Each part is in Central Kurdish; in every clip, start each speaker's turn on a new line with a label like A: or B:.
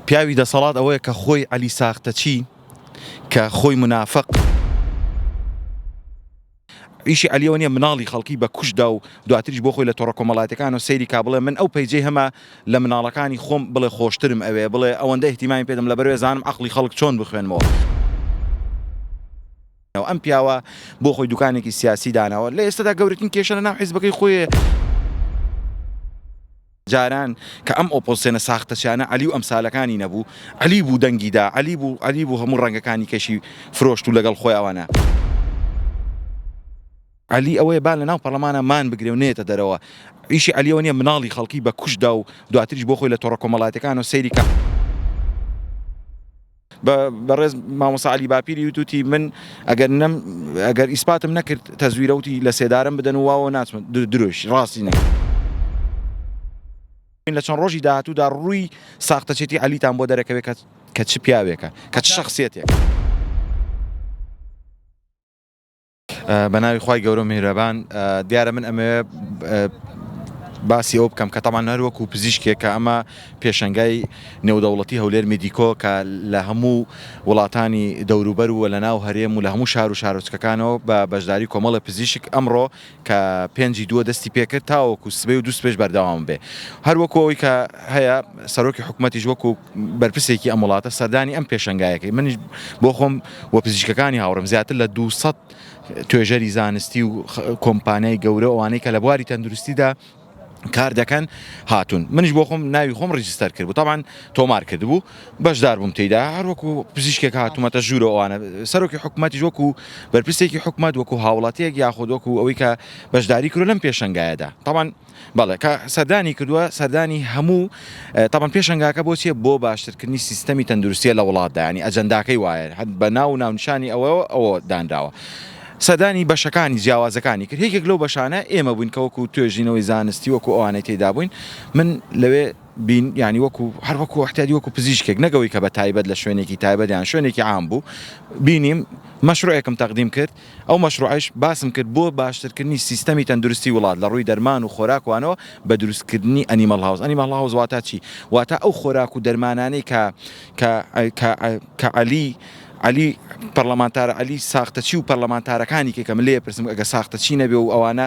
A: پیاوی دەسەڵات ئەوەیە کە خۆی عەلی ساختەچی کە خۆی منافق. ئیشی عەلی ئەوە نیە مناڵی خەڵکی بە کوشت دا و دواتریش بۆ خۆی لە تۆڕە کۆمەڵاتیەکانەوە سەیری کا بڵێ من ئەو پەیجەی هەمە لە مناڵەکانی خۆم بڵێ خۆشترم ئەوێ بڵێ ئەوەندە ئیهتیمامی پێدەم لەبەروێ زانم عەقڵی خەڵک چۆن بخوێنمەوە. ئەم پیاوە بۆ خۆی دوکانێکی سیاسی داناوە لە ئێستەدا گەورەترین کێشە لە ناو حیزبەکەی خۆی. جاران کە ئەم ئۆپۆزسێنە ساختەچیانە عەلی و ئەمسالەکانی نەبوو، عەلی بوو دەنگی دا، عەلی بوو، عەلی بوو هەموو ڕەنگەکانی کەشی فرۆشت و لەگەڵ خۆی ئەوانە. عەلی ئەوەیە با لەناو پەڕلەمانا مان بگرێ و نەیەتە دەرەوە. ئیشی عەلی ئەوە نیە مناڵی خەڵکی بە کوشت دا و دواتریش بۆ خۆی لە تۆڕە کۆمەڵایەتیەکانەوە سەیری کە. بە بەڕێز مامۆسا عەلی باپیری وتوتی من ئەگەر نەم ئەگەر ئیسپاتم نەکرد تەزویرە وتی لە سێدارەم بدەن و واوە ناچمە درۆیش ڕاستی نەکرد. لە چەند ڕۆژی داهاتوودا ڕووی ساختەچێتی عەلیتان بۆ دەرەکەوێ کە کە چ پیاوێکە کە چ شەخسیەتێکە. بە ناوی خوای گەورە و میهرەبان دیارە من ئەمەوێ باسی ئەو بکەم کە تامان هەر وەکو پزیشکێک کە ئەمە پێشنگای نێودەوڵەتی هەولێر میدیکۆ کە لە هەموو وڵاتانی دەوروبەر و لە ناو هەرێم و لە هەموو شار و شارۆچکەکانەوە بە بەشداری کۆمەڵە پزیشک ئەمڕۆ کە پێنجی دووە دەستی پێکرد تاوەکو سبەی و دوست پێش بەردەوام بێ هەر وەکەوەی کە هەیە سەرۆکی حکوومەتیش وەکو بەرپرسێکی ئەم وڵاتە سەردانی ئەم پێشەنگایەکەی منیش بۆ خۆم و پزیشکەکانی هاوڕم زیاتر لە 200 توێژەری زانستی و کۆمپانیای گەورە ئەوانەی کە لە بواری تەندروستیدا کار دەکەن هاتون منش بۆ خۆم ناوی خۆم ڕجستەر کرد بتاان تۆمار کرد بوو بەشدار بووم تێدا هەروەکو پزیشکێک هاتوومەتە ژوورە ئەوانە سەرۆکی حکوومەتیش وەکو بەرپرسێکی حکوومەت وەکو هاوڵاتیەک یاخود وەکو ئەوەی کە بەشداری کرد لەم پێشنگایەدا تاوان بەڵێ کە سەردانی کردوە سەردانی هەموو تەبەن پێشەنگاکە بۆ چیە بۆ باشترکردنی سیستەمی تەندروستیە لە وڵاتدا ینی ئەجەنداکەی وایە هەر بە ناو و ناونشانی ئەوە ئەوە دانراوە سەدانی بەشەکانی جیاوازەکانی کرد یەکێک لەو بەشانە ئێمە بووین کە وەکو توێژینەوەی زانستی وەکو ئەوانەی تێدا بووین من لەوێ بین ینی وەکو هەر وەکو احتیادی وەکو پزیشکێک نەگەوەی کە بە تایبەت لە شوێنێکی تایبەتیان شوێنێکی عام بوو بینیم مەشروعێکم تەقدیم کرد ئەو مەشروعەیش باسم کرد بۆ باشترکردنی سیستەمی تەندروستی وڵات لە ڕووی دەرمان و خۆراک وانەوە بە دروستکردنی ئەنیمەڵ هاوس ئەنیمەڵ هاوس واتا چی واتا ئەو خۆراک و دەرمانانەی کە کە کە کە عەلی عەلی پەڕلەمانتار عەلی ساختەچی و پەڕلەمانتارەکانی کە کەم لێ پرسم ئەگەر ساختەچی نەبێ و ئەوانە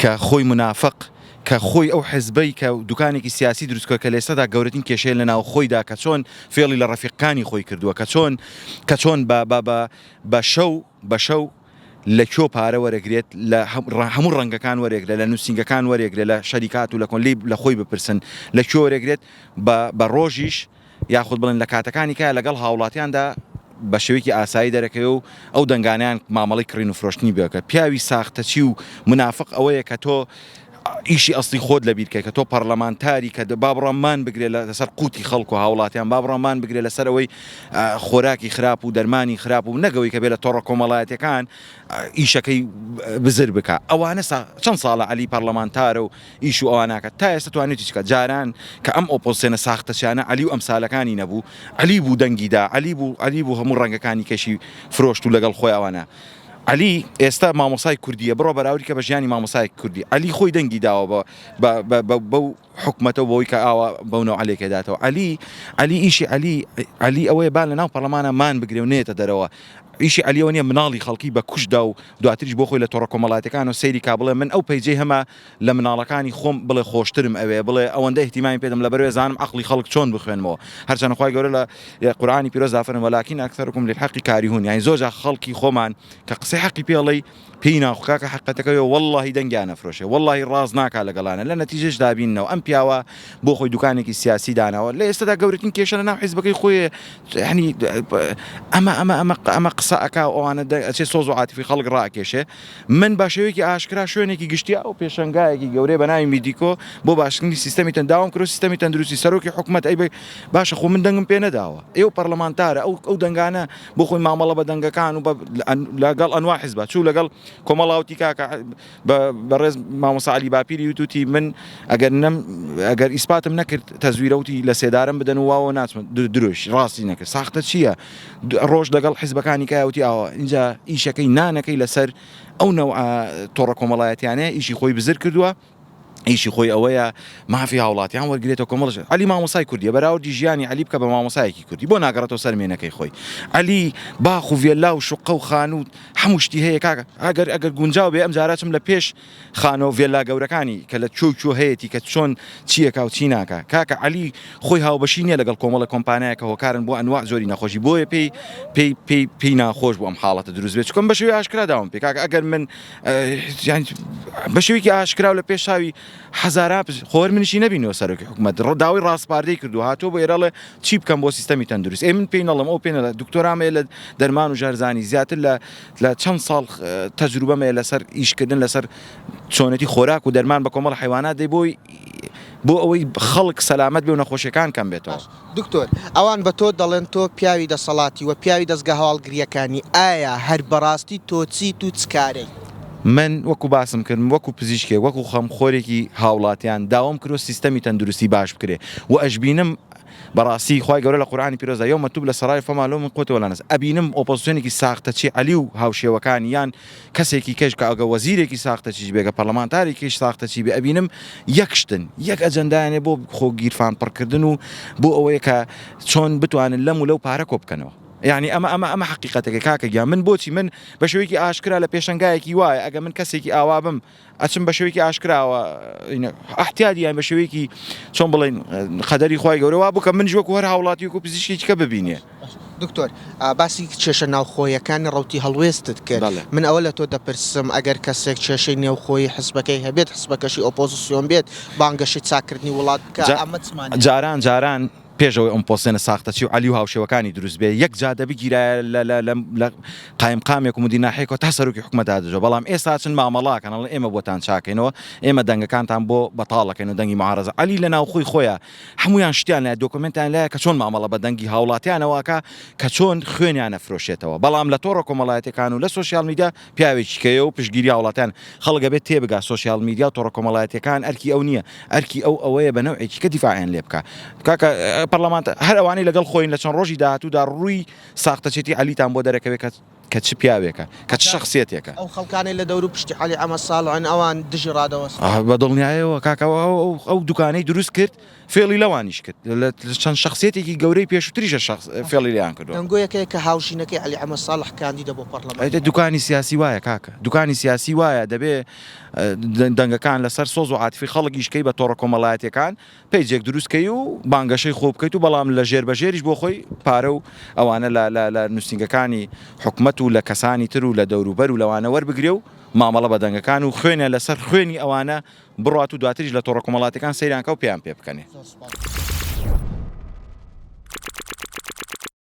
A: کە خۆی منافق کە خۆی ئەو حزبەی کە دوکانێکی سیاسی دروست کە لێستەدا گەورەتین کێشەیە لە ناو خۆیدا کە چۆن فێڵی لە ڕەفیقکانی خۆی کردووە کە چۆن کە چۆن بە بە بە بە شەو بە شەو لە کۆ پارە وەرەگرێت لە هەموو ڕەنگەکان وەرێگرە لە نووسینگەکان وەرێگرە لە شەریکات و لە کۆن لی لە خۆی بپرسن لە کۆ وەرێگرێت بە بە ڕۆژیش یاخود بڵێن لە کاتەکانی کایە لەگەڵ هاوڵاتیاندا بە شێوەیەکی ئاسایی دەرەکەوێ و ئەو دەنگانەیان مامەڵەی کڕین و فرۆشتنی بەکە پیاوی ساختەچی و منافق ئەوەیە کە تۆ ئیشی ئەستی خۆت لە بیرکە کە تۆ پەرلەمانتاری کە بابڕەمان بگرێت لەسەر قوتی خەڵک و هاوڵاتیان بابڕەمان بگرێت لەسەر ئەوەی خۆراکی خراپ و دەرمانی خراپ و نەگەوەی کە بێ لە تۆڕە کۆمەڵایەتەکان ئیشەکەی بزر بکە ئەوانە چەند ساڵە علی پەرلەمانتارە و ئیش و ئەوا ناکات تا ئێستا توانی چی کات جاران کە ئەم ئۆپۆزسێنە ساختەچیانە عەلی و ئەمسالەکانی نەبوو عەلی بوو دەنگی دا عەلی بوو عەلی بوو هەموو ڕەنگەکانی کەشی فرۆشت و لەگەڵ خۆی ئەوانە عەلی ئێستا مامۆسای کوردیە بڕۆ بەراوری کە بە ژیانی مامۆسای کوردی عەلی خۆی دەنگی داوە بە بە بە بە بەو حکومەتە بۆی کە ئاوا بەو نەوعە لێکێ داتەوە عەلی عەلی ئیشی عەلی عەلی ئەوەیە با لە ناو پەرلەمانە مان بگرێ و نێتە دەرەوە ئیشی عەلی ئەوە نیە مناڵی خەڵکی بە کوشت دا و دواتریش بۆ خۆی لە تۆڕە کۆمەڵاتیەکان و سەیری کا بڵێ من ئەو پەیجەی هەمە لە مناڵەکانی خۆم بڵێ خۆشترم ئەوێ بڵێ ئەوەندە ئیهتیمامی پێدەم لەبەروێ زانم عەقڵی خەڵک چۆن بخوێنمەوە هەرچەنە خوای گەورە لە قورئانی پیرۆزدا فەرموێ ولکن اکثرکم للحق کارهون یانی زۆر جار خەڵکی خۆمان کە قسەی حەقی پێ ئەڵێی پێی ناخ کاکە حەقەتەکە ئەوێ وەڵڵاهی دەنگیان ئەفرۆشێ وەڵڵاهی ڕاست ناکا لەگەڵانە لە نەتیجەشدا بیننەوە ئەم پیاوە بۆ خۆی دوکانێکی سیاسی داناوە لە ئێستەدا گەورەترین کێشە لەناو حیزبەکەی خۆی یانی ئەمە ئەمە ئەمە ئەمە قسە ئەکا و ئەوانە ئەچێ سۆز و عاتفی خەڵک ڕائەکێشێ من بە شێوەیەکی ئاشکرا شوێنێکی گشتیی و پێشەنگایەکی گەورەی بە ناوی میدیکۆ بۆ باشکردنی سیستەمی تەن داوام کرد و سیستەمی تەندروستی سەرۆکی حکومەت ئەی باشە خۆ من دەنگم پێ نەداوە ئێوە پەڕلەمانتارە ئەو ئەو دەنگانە بۆ خۆی مامەڵە بە دەنگەکان و بە لەگەڵ ئەنوا حزبە چوو لەگەڵ کۆمەڵا وتی کاکە بە بەڕێز مامۆسا عەلی باپیری وتوتی من ئەگەر نەم ئەگەر ئیسپاتم نەکرد تەزویرە وتی لە سێدارەم بدەن و واوە ناچمە درۆیشی ڕاستی نەکرد ساختە چییە ڕۆژ لەگەڵ حیزبەکانی کای وتی ئاوە اینجا ئیشەکەی نانەکەی لەسەر ئەو نەوع تۆڕە کۆمەڵایەتیانەیە ئیشی خۆی بزر کردووە ئیشی خۆی ئەوەیە مافی هاوڵاتیان وەرگێتە کۆمەڵژ علی مامۆسای کوردی بەراوردی ژیانی علی بکە بە مامۆسایەکی کوردی بۆ ناگەڕێتەوە سەرمێنەکەی خۆی علی باخ و ڤێلا و شقە و خانوو هەموو شتی هەیە کاکە ئەگەر ئەگەر گونجاو بێ ئەم جارچم لە پێش خانە و ڤێللا گەورەکانی کە لە کوێ و کوێ هەیەتی کە چۆن چی ئەکا و چی ناکا. کاکە عەلی خۆی هاوبەشی نیە لەگەڵ کۆمەڵە کۆمپانایا کە هۆکارن بۆ ئەنواع جۆری نەخۆشی بۆیە پێی پێی پێی پێی ناخۆش بوو ئەم حاڵەتە دروست بێت چکم بەشێوی ئاشکرا داوام پێ کاکە ئەگەر من بەشێویکی ئاشکراو لە پێش چاوی حەزارا خۆر منیشی نەبینەوە سەرۆکی حکومەت ڕداوی ڕاستپاردەی کردو هاتۆ بۆ ئێراڵێ چی بکەم بۆ سیستەمی تەندروست ئێ من پێی نەڵم ئەو پێێنە دکتۆرامەیە لە دەرمان و ژەرزانی زیاتر لە لە چەند ساڵ تەجروبەم هەیە لەسەر ئیشکردن لەسەر چۆنێتی خۆراک و دەرمان بە کۆمەڵ حیوانات دەی بۆی بۆ ئەوەی خەڵک سەلامەت بێ و نەخۆشیەکان کەم بێتەوە دکتۆر ئەوان
B: بە تۆ دەڵێن تۆ پیاوی دەسەڵاتی وە پیاوی دەزگا هەواڵگریەکانی ئایا هەر بەڕاستی تۆ چیت و چ کارەی؟ من وەکو
A: باسم کرد وەکو پزیشکێک وەکو خەمخۆرێکی هاوڵاتیان داوام کرد سیستەمی تەندروستی باش بکرێ وە ئەشبینم بەڕاستی خوای گەورە لە قورئانی پیرۆزدا، یوم توبلی سەرائر فما لهم من قوة ولا نصر، ئەبینم ئۆپۆزسیۆنێکی ساختەچی عەلی و هاوشێوەکانی یان کەسێکی کەش کە ئەگە وەزیرێکی ساختەچیش بێ گە پەڕلەمانتارێکیش ساختەچی بێ ئەبینم یەک شتن یەک ئەجەندایان هەیە بۆ خۆ گیرفان پڕ کردن و بۆ ئەوەیە کە چۆن بتوانن لەم و لەو پارە کۆ بکەنەوە یانی ئەمە ئەمە ئەمە حەقیقەتەکە کاکە گیان من بۆچی من بە شێوەیەکی ئاشکرا لە پێشەنگایەکی وایە ئەگە من کەسێکی ئاوا بم. ئەچم بە شێوەیەکی ئاشکراوە ئەحتیادی یان بە شێوەیەکی چۆن بڵێن قەدەری خی گەورە وا بکە منش وەکو هەر هاوڵاتیک و پزیشکێکە ببینێ دکتۆر
B: باسی کێشە ناوخۆیەکانی ڕوتی هەڵوێستت کرد من ئەوە لە تۆ دەپرسم ئەگەر کەسێک کێشەی نێوخۆی حسبەکەی هەبێت حسبەکەشی ئۆپۆزیسیۆن بێت بانگەشی چاکردنی وڵات جاران جاران پێش ئەوەی ئەم پۆستێنە
A: ساختەچی و عەلی و هاوشێوەکانی دروست بێ یەک جادە بگیرایە لە لە لە لە قایمقامێک و مدیرناحەیەکەوە تا سەرۆکی حکومەت دادەجۆ بەڵام ئێستا ئەچن مامەڵە ئەکەن ئەڵێن ئێمە بۆتان چاکەینەوە ئێمە دەنگەکانتان بۆ بەتاڵ ئەکەین و دەنگی معارەزە عەلی لە ناوخۆی خۆیە هەموویان شتیان لایە دۆکۆمێنتیان لایە کە چۆن مامەڵە بە دەنگی هاوڵاتیانەوە ئەکا کە چۆن خوێنیان نەفرۆشێتەوە بەڵام لە تۆڕە کۆمەڵایەتیەکان و لە سۆشیال میدیا پیاوێکی کەیە و پشتگیری هاوڵاتیان خەڵک ئەبێت تێبگا سۆشیال میدیا و تۆڕە کۆمەڵایەتیەکان ئەرکی ئەو نییە ئەرکی ئەو ئەوەیە بە نەوعێکی کە دیفاعیان لێ بکا کاکە پەرلەمانت هەر ئەوانەی لەگەڵ خۆین لە چەند ڕۆژی داهاتوودا ڕووی ساختەچێتی عەلیتان بۆ دەرەکەوێت کە کە چ پیاوێکە کە چ شخصیتێکە ئەو خەڵکانەی لە دەورو
B: پشتی عەلی عەمە ساڵحن ئەوان دژی ڕادەوەستن. بە دڵنیایەوە
A: کاکە ئەو دوکانەی دروست کرد. فێڵی لەوانیش کرد لە چەند شەخسیەتێکی گەورەی پێشوتریشە شەخس فێڵی لێیان کردوە. دەنگۆیەکەیە کە هاوژینەکەی
B: عەلی ئەحمەد ساڵح کاندیدە بۆ پەڕڵەمان. ئەی دە دوکانی سیاسی وایە
A: کاکە، دوکانی سیاسی وایە دەبێ دەنگەکان لەسەر سۆز و عاتفی خەڵک ئیش کەی بە تۆڕە کۆمەڵایەتیەکان پەیجێک دروست کەی و بانگەشەی خۆ بکەیت و بەڵام لە ژێر بە ژێریش بۆ خۆی پارە و ئەوانە لە لە لە نوسینگەکانی حکومەت و لە کەسانی تر و لە دەوروبەر و لەوانە وەربگرێ و مامەڵە بە دەنگەکان و خوێنە لەسەر خوێنی ئەوانە بڕوات و دواتریش لە تۆڕە کۆمەڵاتیەکان سەیرانکە و پێیان پێ بکەنێ.